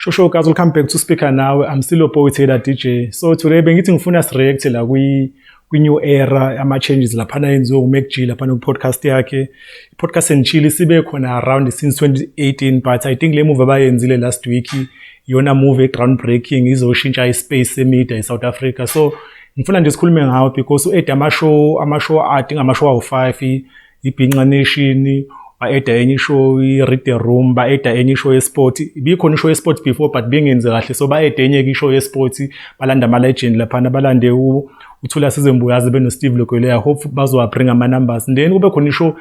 Shosho guys, welcome back to Speaker Now. I'm still Opoe Taylor DJ. So today bengithi ngifuna si react la kwi kwi new era ama changes lapha na yenziwe uMac G lapha no podcast yakhe. Podcast and chill sibe khona around since 2018 but I think le move abayenzile last week yona move groundbreaking izoshintsha ispace emedia eSouth Africa. So ngifuna nje sikhulume ngawo because u-eda amashow amashow ade ngamashow awu-five ibhinca nation ba-eda enye ishow i-read the room ba-eda enye ishow yesport ibikhona ishow yesport before but bengenzi kahle so ba-eda enye-ke ishow yesport balanda ama-legend laphana balande uthula sizembuyazi benosteve lokweleya hope bazowabringa ama-numbers then kube khona ishow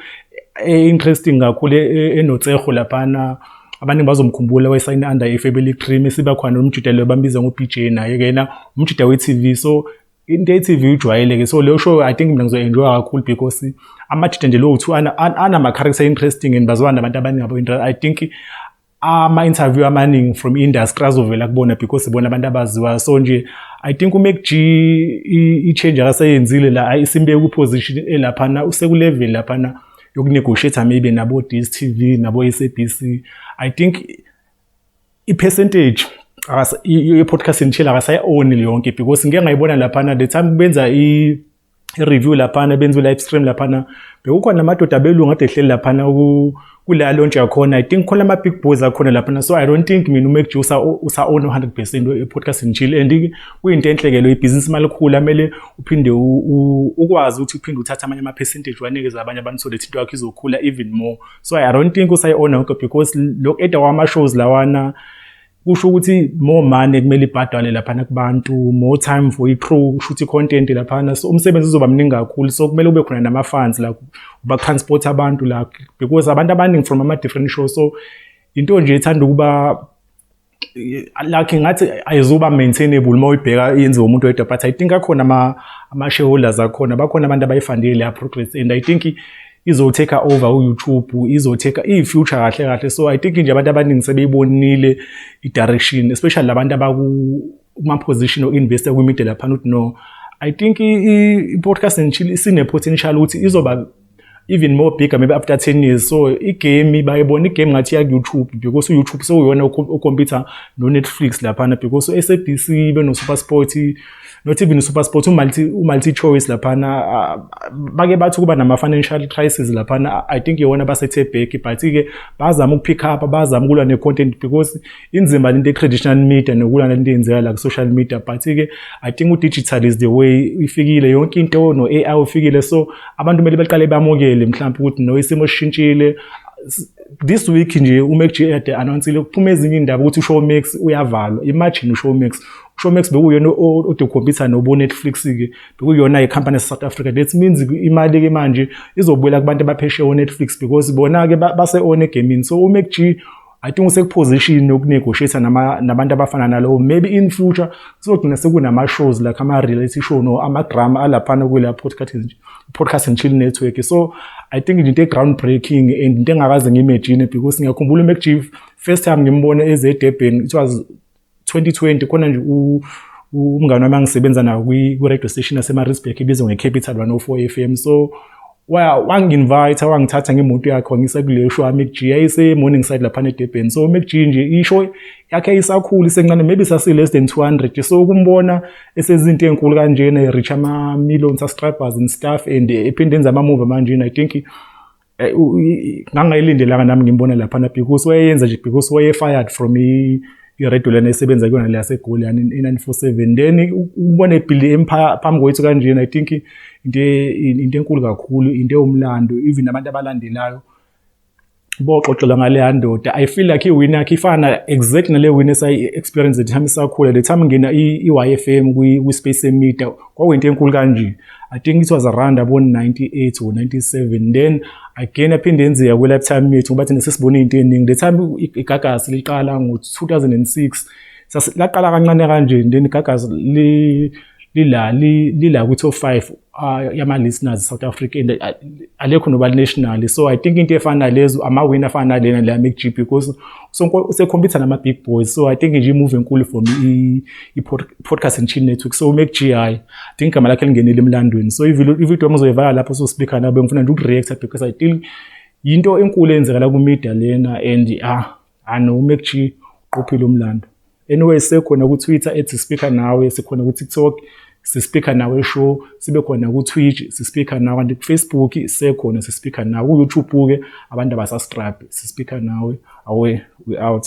e-interesting kakhulu e-, e-, enotseho laphana abaningi bazomkhumbula wayesayine under efebe licream esiba khona nomjuda leyo bambiza ngo-bj naye ke yena umjuda we-tv so into ye-tv ujwayeleke so leyo show i think mina ngizoenjoya kakhulu because amajuda nje lowo two anama-character interesting and bazwana nabantu abaningi abo i think ama-interview amaningi from industry azovela kubona because bona abantu abaziwayo so nje i think umec i-change akaseyenzile la isimbeke ku-position elaphana usekulevel laphana yokunegotiate maybe nabo DStv nabo SABC i think i percentage ye podcast ngitshela akasayi own yonke because ngeke ngayibona lapha na the time benza i review lapha na benza live stream lapha na bekukhona amadoda belungu ade hleli lapha na ku kula launch yakhona i think khona ama big boys akhona lapha na so i don't think mina uMac Juice usa own 100% e podcast ngitshile and kuyinto enhle ke lo ibusiness malikhulu amele uphinde ukwazi ukuthi uphinde uthathe amanye ama-percentage wanikeze abanye abantu so that into yakho izokhula even more so i don't think usayi-ona yonke because lo eda wama-shows lawana kusho ukuthi more money kumele ibhadale laphana kubantu more time for i-crew kusho ukuthi i-content laphana so umsebenzi uzoba mningi kakhulu so kumele ube khona nama-funds la ubatransport abantu la because abantu abaningi from ama-different show so into nje ethanda ukuba like ngathi ayizuba maintainable uma uyibheka yenziwa umuntu wedwa but i think akhona ama ama shareholders akhona bakhona abantu abayifandile leya progress and i think izoteka over uYouTube izoteka ifuture kahle kahle so i think nje abantu abaningi sebeyibonile i-direction especially labantu abaku uma position or investor kwi media lapha not no i think i-podcast and chill sine potential ukuthi izoba even more bigger maybe after 10 years so igame bayibona igame ngathi ya YouTube because YouTube so uyona ukhompyutha no Netflix laphana because uSABC ibe no SuperSport not even uSuperSport uMulti uMulti Choice laphana ah, bake bathi kuba nama financial crisis laphana i think yona basethe back but ke bazama ukupick up bazama ukulwa ne content because inzima lento ye-traditional media nokulana lento eyenzeka la ku-social media but-ke i think u-digital is the way ifikile yonke into no-ai ufikile so abantu kumele baqale bamukele mhlawumpe ukuthi no isimo sishintshile this week nje uMac Ade announcile kuphuma ezinye indaba ukuthi uShowmax uyavalwa imagine uShowmax uShowmax bekuyona odokhompyutha nobo Netflix ke bekuyona icompany South Africa that means imali ke manje izobuyela kubantu abaphesheya uNetflix because bona ke base on gaming so uMac I think usekuposition yokunegotiate nama nabantu abafana nalowo maybe in future sizogcina sekunama shows like ama reality show no ama drama alaphana kule podcast nje podcast and chill network so i think into e ground breaking and into engakaze ngimagine because ngiyakhumbula uMac Chief first time ngimbone eze Durban it was 2020 khona nje umngane wami angisebenza nayo kwi-radio station yasemaritzburg ibizwa nge-capital 104 f m so wangi-invite wangithatha ngemoto yakhe wangisa kuleyo show amcg yayise-morning side laphana edebheni so umcg nje isho yakhe isakhulu isencane maybe sasi-less than 200 so ukumbona esezinto ey'nkulu kanjena e-reach ama-million subscribers and stuff and ephinde enza ama-move manjena i think Eh, ngangayilindelanga nami ngimbone laphana because wayeyenza nje because waye-fired from iredio lena esebenza kuyona le yasegoli yani i-nine four seven then ubona ebhildi phambi kwethu kanjena i think into into enkulu kakhulu into ewumlando even abantu abalandelayo boxoxela ngaleya ndoda i feel like iwini yakhe ifana exact nale wini esayi-experience the time isakhula the time ngena i-y f m kwi-space emida kwakuyinto enkulu kanje I think it was around abo 98 or 97 then again aphinde enzeka kwe lifetime yethu ngoba thina sesibone into eningi the time igagasi liqala ngo 2006 laqala kancane kanje then igagasi li lila lila ku top 5 ah, yama listeners South Africa and ah, alekho noba national so i think into efana lezo ama win afana lena la MGP because so sekhompyutha nama big boys so i think nje imove enkulu for me i-podcast and chill network so make gi i think igama lakhe lingenile emlandweni so ivideo yami uzoyivala lapho so speaker nabo ngifuna nje ukureacta because i think yinto enkulu eyenzeka la ku-media lena and ah ano make g uqophile umlando anyway sekhona ku-twitter ethi sispikha nawe sikhona ku-tiktok sispikha nawe show sibe khona ku-twitch sispikha nawe kanti kufacebook sekhona sispikha nawe ku-youtube-ke abantu abasastrabhe sispikha nawe awe we out